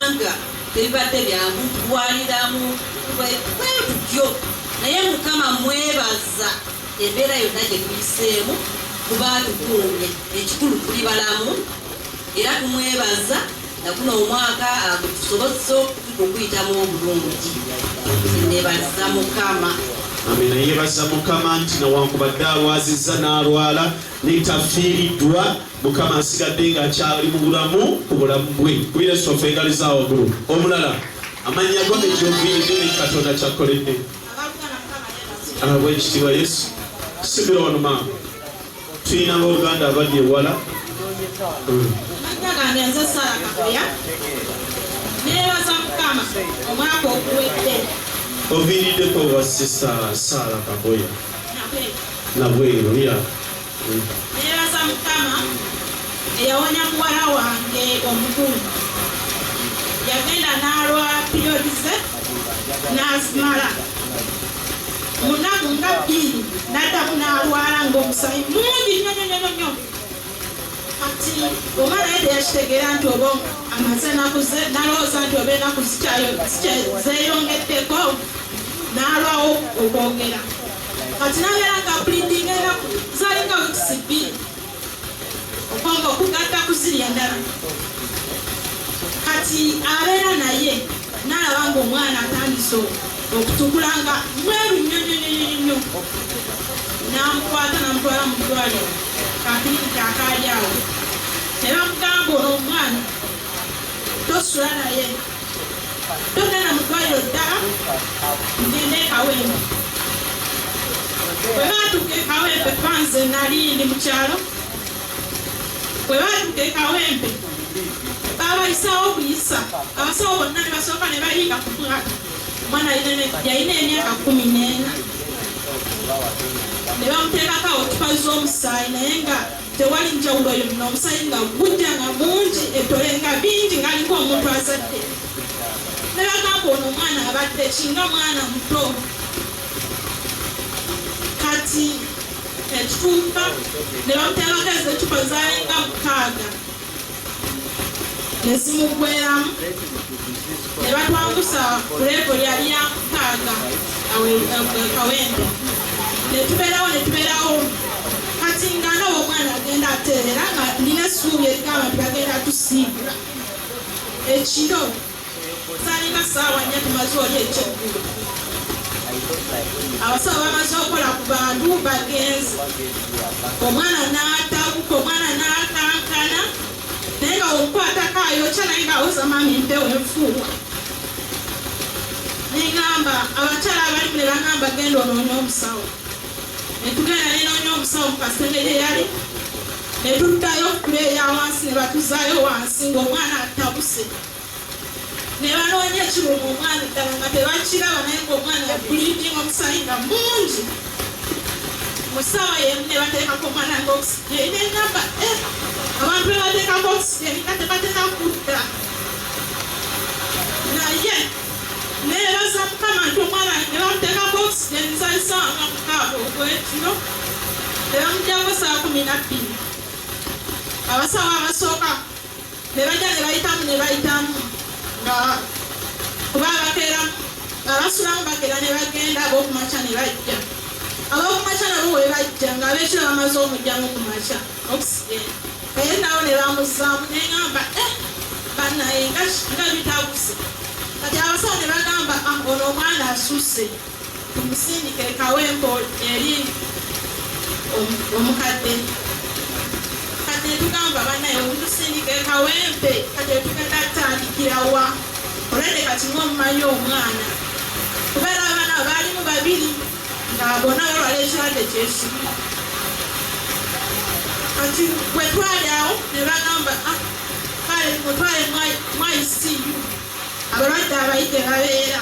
Kubanga tebibadde byangu kulwaniramu bwetutyo, naye Mukama mwebaza embeera yonna gye tuyiseemu kuba atukuumye. Ekikulu tuli balamu era tumwebaza na guno omwaka agutusobozesa okuyitamu obulungi. Nebaza Mukama. Amina yebaza Mukama nti newankubadde alwazizza n'alwala naye tafiiriddwa. Mukama asigadde nga akyali mu bulamu ku bulamu bwe ku Yesu offe engali za waggulu omulala amannya go ne gyoviiridde ne Katonda kyakkoledde abwa ekitiibwa Yesu sibira wano maama tulina abauganda abali ewala oviiriddeko wa sisa saala kagoya nabweru ya Neebaza Mukama eyawonya muwala wange omukulu yagenda n'alwa piriyodi ze n'azimala mu nnaku nga bbiri n'addamu n'alwala ng'omusayi mungi nnyo nnyo nnyo nnyo kati oba naye teyakitegeera nti oba amaze enaku nalowooza nti oba enaku zeyongeddeko n'alwawo okwogera kati nabeera nga mpulindinga enaku zalinga wikisi bbiri okwanga okugatta ku ziri endala kati abeera naye nalaba nga omwana atandise okutukula nga mweru nnyo nnyo nnyo nnyo namukwata namutwala mu ddwaliro kakirikiti akaali awo nebamugamba ono omwana tosula naye togenda mu ddwaliro ddala ngende ekawembe bwe baatuuka ekawembe panze nali ndi mu kyalo bwe baatuuka ekawembe babayisawo okuyisa abasawo bonna ne basooka ne bayiika ku mwaka omwana yalina emyaka kumi n'ena ne bamuteekako otupa z'omusaayi naye nga Tewali njawulo yonna, omusaayi nga gujja nga mungi, ettole nga bingi ng'aliko omuntu azadde. Ne bagamba ono omwana abadde ki nga mwana muto. Kati ekituuka ne bamuteerako ez'eccupa zaalinga mukaaga. ne zimuggweramu ne batwangusa ku leebo lyali ya mukaaga kawembe ne tubeerawo ne tubeerawo kati nga nawe omwana agenda ateerera nga nina essuubi erigamba nti bagenda tusiibula ekiro Salina saawa nnya tumaze oli ekyeggulu. Abasawo bamaze okukola ku bantu bagenzi. Omwana n'atabuka, omwana n'akankana naye nga omukwatako ayokya naye ng'awoza maama empewo enfuuwa. Ne ngamba abakyala abalimu ne bangamba genda onoonye omusawo. Ne tugenda ne noonya omusawo mu kasenge gye yali ne tuddayo okuleeya wansi ne batuzaayo wansi ng'omwana atabuse. ne banoonya ekiruma omwana eddala nga tebakiraba naye ngaomwana yabulidinga omusaayi nga mungi mu ssaawa yemu ne bateekako omwana nga okisigeri nengamba eh, abantu be bateekako okisigeri nga tebateka kudda naye nebaza mukama nti omwana ne bamuteekako okisigeri nsalisaawa nga mukaaga ogwekiro ne bamujjako saa kumi nabbiri abasawo abasooka ne bajja ne bayitamu ne bayitamu nga kuba abakeera abasulamu bakeera ne bagenda ab'okumakya ne bajja ab'okumakya nabo we bajja nga ab'ekiro bamaze omujjamu ku makya okisigenda naye nabo ne bamuzaamu ne ŋamba eh, bannaye nga bitaguse kati abasawo ne bagamba ah, ono omwana asusse tumusindike kawempo eri omukadde kati netugamba banaye omutusindike kawempe kati etugenda tutandikirawa olwende kati nga omumanyi omwana kubeera abana baalimu babiri nga bona balwala ekirwadde kyesimu kati bwetwali awo nebagamba ah, kale mutwale mwaisiyu abalwadde abayite babeera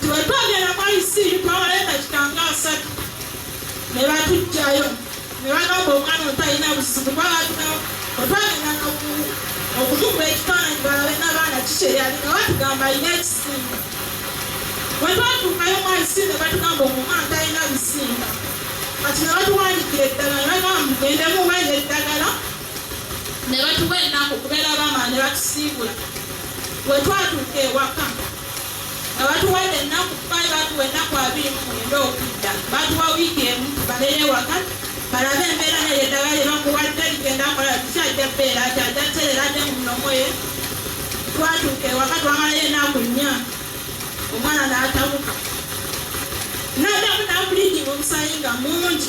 Tewetwagera kwa isiiri twawaleeta kitanga asatu ne batujjayo ne bagamba omwana oto alina buzibu kwalaga otwagenda okumukuba ekifaananyi balabe n'abaana kikyeyali nga batugamba alina ekisimba bwe twatuukayo mu isiiri ne batugamba omwana talina bisimba kati ne batuwandikira eddagala ne bagamba mugendemu mwenye eddagala ne batuwa ennaku kubeera bama ne batusiibula bwe twatuuka ewaka nga batuwadde ennaku kubaali batuwa ennaku abiri mu mwenda okudda batuwa wiiki emu tubalere ewaka balabe embeera neryo eddagala lye bakuwadde ligenda nkola tukyajja bbeera ati ajja terera ate mu mulomo ye twatuuka ewaka twamalayo ennaku nnya omwana n'atabuka n'addamu n'akuliikinga omusayi nga mungi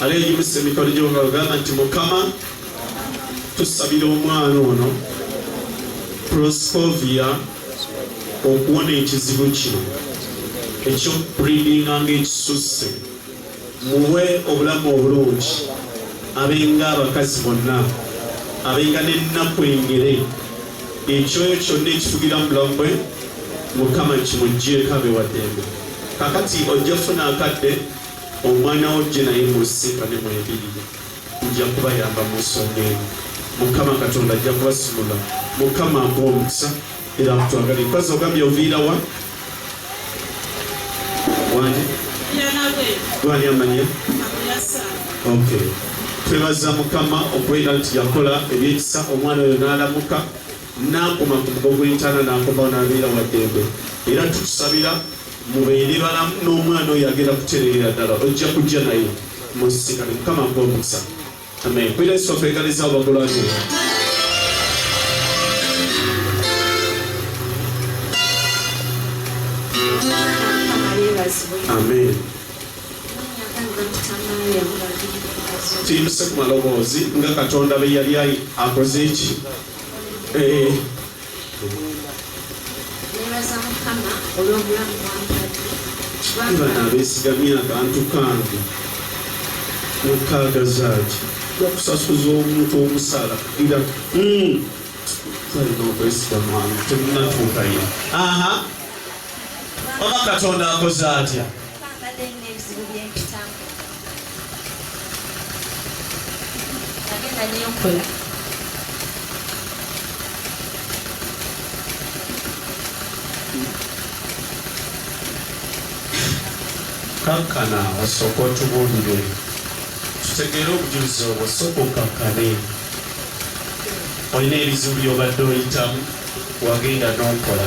Ala eyimusa emikono gyo nga ogamba nti Mukama tusabira omwana ono Proscovia okuwona ekizibu kino ekyokupuridinga ng'ekisusse muwe obulamu obulungi abenga abakazi bonna abenga n'ennaku engere ekyoyo kyonna ekifugira mu bulamu bwe mukama kimuggyeko abewadembe kakati ojja funa akadde Omwana wo jje naye musisinkane mwembirire nja kubayamba mu nsonga eno. Mukama Katonda ajja kubasumula. Mukama akuwe omukisa era akutwagalire. Mpazzi ogambye oviira wa? Wani? Gwani amanya? Okay. Twebaza Mukama okubeera nti yakola ebyekisa omwana oyo n'alamuka. Nakoma ku mugo gw'entaana nakomawo nabeera waddembe era tukusabira mubeere balamu n'omwana oyo agenda kutereera ddala ojja kujja naye mu nsisinkano mukama akuwe omukisa amen kwira yesu waffe egaliza obagulwanira amen tuyimuse ku maloboozi nga katonda beyali akoze eki Eh. nebaza mukama olw'obulamu bwampata bana abesigamye abantu kange mukaaga zaaki bakusasuza omuntu omusala ira hmm. balina okwesiga mwana temunatuukayo aha oba katonda akoze atya nagenda nenkola kankana osooka otubuulire tutegeere obujulizi obwo sooka okankane olina ebizibu byobadde oyitamu wagenda n'okola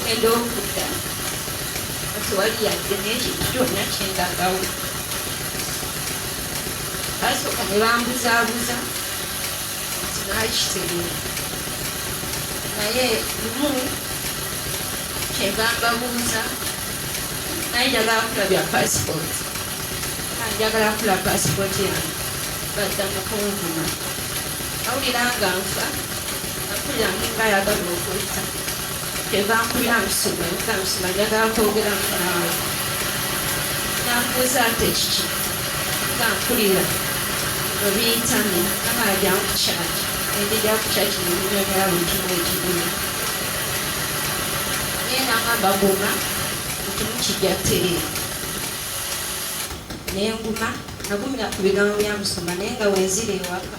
ogenda okudda kati wali yadde n'ekintu kyonna kyendagawo basooka ne bambuzaabuza nti nakitegeera naye lumu kyeva mbabuuza naye njagala kula bya pasipooti njagala kula pasipooti yange badda mukunvuma awulira nga nfa nenguma nagumira ku bigambo bya musumba naye nga wenzira ewaka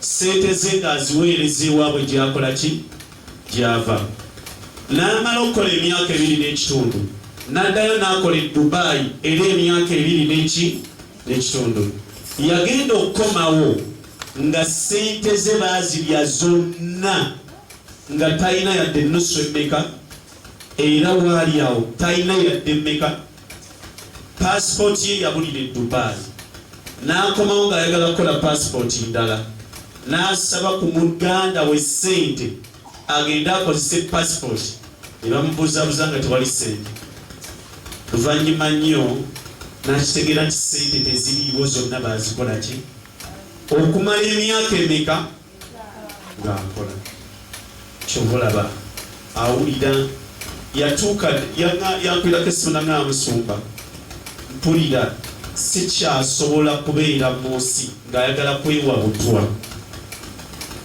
ssente ze ng'aziweereza ewaabwe gy'akola ki gy'ava n'amala okukola emyaka ebiri n'ekitundu n'addayo n'akola e Dubai era emyaka ebiri n'eki n'ekitundu yagenda okukomawo nga ssente ze baazirya zonna nga talina yadde ennusu emmeka era waali awo talina yadde emmeka paasipooti ye yabulira e Dubai n'akomawo ng'ayagala kukola paasipooti ndala n'asaba ku muganda we ssente agende akozese paasipooti ne bamubuuzabuza nga tewali ssente luvannyuma nnyo n'akitegeera nti ssente teziriiwo zonna baazikola ki okumala emyaka emeka nga nkola kyova olaba awulira yatuuka yankwirako essimu nanga musumba mpulira sikyasobola kubeera mu nsi ng'ayagala kwewa butwa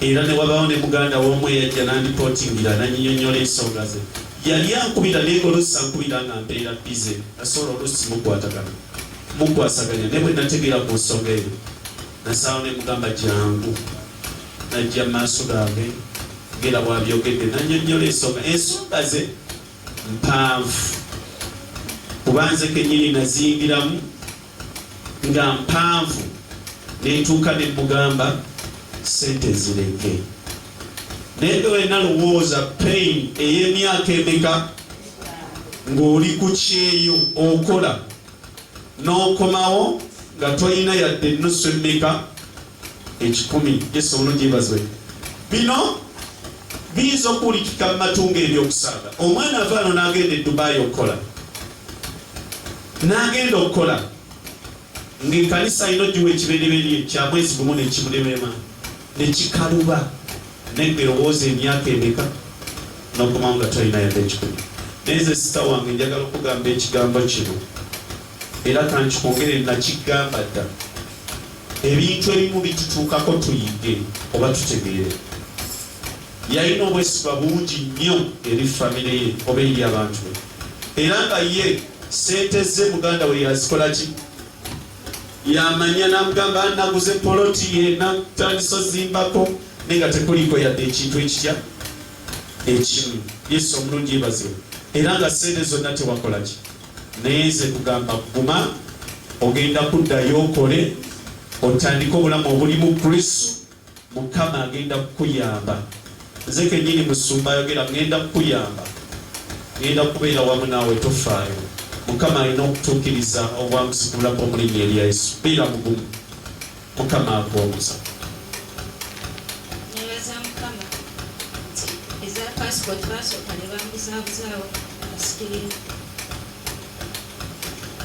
era ne wabaawo ne muganda w'omu eyajja nandipootingira nanyinyonyola ensonga ze yali ankubira naye ng'oluusi ankubira nga mpeera bize asobola oluusi mukwatagana mukwasaganya naye bwe nategeera ku nsonga eyo Nasalawo ne mugamba jangu. Najja mu maaso gaabwe ng'era bw'abyogedde n'annyonnyola ensonga. Ensonga ze mpanvu kuba nze kennyini naziyingiramu nga mpanvu ne ntuuka ne mmugamba ssente nzireke. Naye nge wena lowooza pain ey'emyaka emeka ng'oli ku kyeyo okola n'okomawo nga tolina yadde ennusu emmeka ekikumi yesu omulungi yebazibwe bino biyinza okuwulikika mu matu nga ebyokusaaga omwana ava no n'agenda edubaayi okukola n'agenda okukola ng'ekanisa alina ogiwa ekibereberye kya mwezi gumu nekimulemema ne kikaluba naye ngelowooza emyaka emeka nokomawo nga tolina yadde ekikumi naye nze sita wange njagala okugamba ekigambo kino era kankikongere nakigamba dda ebintu ebimu bitutuukako tuyige oba tutegeere yalina obwesiba bungi nnyo eri famire ye oba eri abantu be era nga ye sente ze muganda we yazikolaki yamanya namugamba naguze poloti ye natandisa ozimbako naye nga tekuliko yadde ekintu ekitya ekimu yesu omulungi ebazibu era nga sente zonna tewakolaki naye nze kugamba kuguma ogenda kuddayo okole otandike obulamu obulimu kristu Mukama agenda kukuyamba. Nze kenyini musumba ayogera ngenda kukuyamba ngenda kubeera wamu naawe tofaayo mukama alina okutuukiriza obwamusigula bwomulinya erya yesu beera mugumu mukama akuwomuza nebaza mukama nti eza passport basooka ne bamuzabuzaawo asikirina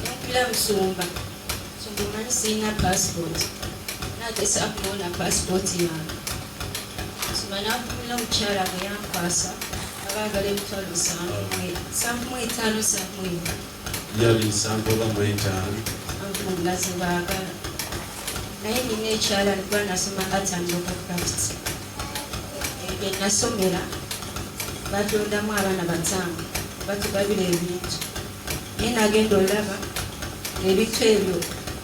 nakula musumba sirina passport nagesa kuona passport yange sima nakumira omukyala nga yankwasa abagala emitwalo sankumu etaano sankumu ena yali nsanvu oba mu etaano nga zebagala naye nina ekyala nikuba nasoma ngatandoka craft ebyo nasomera batondamu abaana batano batugabira ebintu naye nagenda olaba ebintu ebyo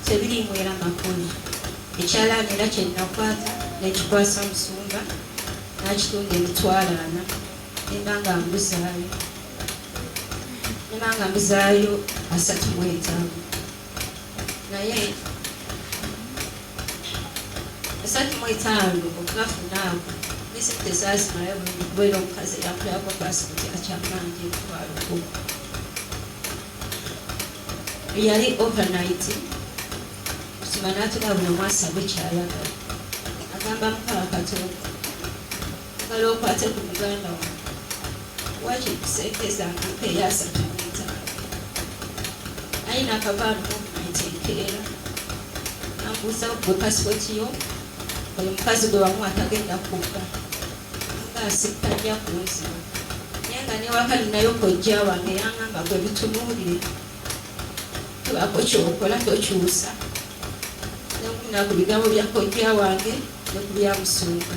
tebirimwera makoni ekyalaani era kyenakwata nekikwasa musumba nakitunda emitwalaana nenda nga mbuzaayo nenda nga mbuzaayo asatu mwetaano naye esatu mu etaano okunafunaako disitulikiti tezaazimalayo bwera omukazi eyakulako paasipooti akyamanja emitwalo kumi yali overnight kusima n'atula buli omwasa bwe kyayagala agamba mukama katonda Bala okwate ku muganda wange wakiri ku sente zange eyasatu n'etaano ayina akavaalo muvumenti enkeera nambuuza gwe pasipoti yo oyo mukazi gwe wamu atagenda kukka nga asittanya ku nzira naye nga newaka ninayo kojja wange yangamba gwe bitunuulire tubako kyokola tokyusa nakunaku bigambo bya kojja wange ne ku bya musumba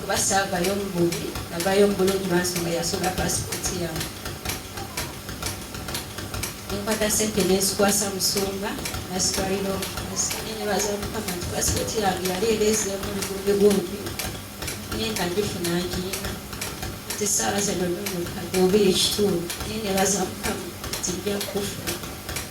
kuba saavayo mububi navayo mubulungi lwansonga yasula pasipooti yange nenkwata sente nenzikwasa musumba nasitwalira omukazinebaza mukama nti pasipooti yange yali ereezeemu lugumbi gumbi naye nga ngifuna ngiyina nti saawa zino nonukadde oba ekitundu naye nebaza mukama nti nja kufuna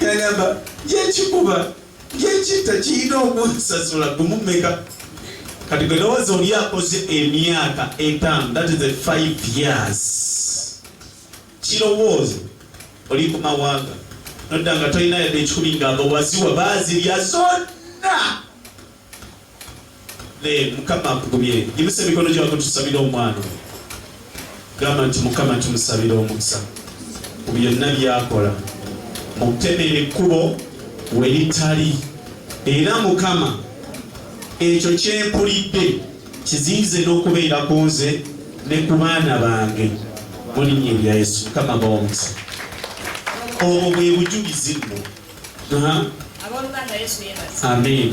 gagamba yekikuba yekitta kiyina okunsasula gumu meka kati gwe lowooza oli akoze emyaka etaano that is a five years kirowoozo oli ku mawanga nodda nga tolina yadde ekikumi nga abawaziwa bazirya zonna naye mukama akugumye yimusa emikono gyako tusabire omwana gamba nti mukama tumusabire omukisa ku byonna byakola mukutemera ekkubo weritali era mukama ekyo kyempulidde kizinze n'okubeera ku nze ne ku baana bange mulinnya erya yesu mukama baomukisa obwo bwe bujulizi nno amen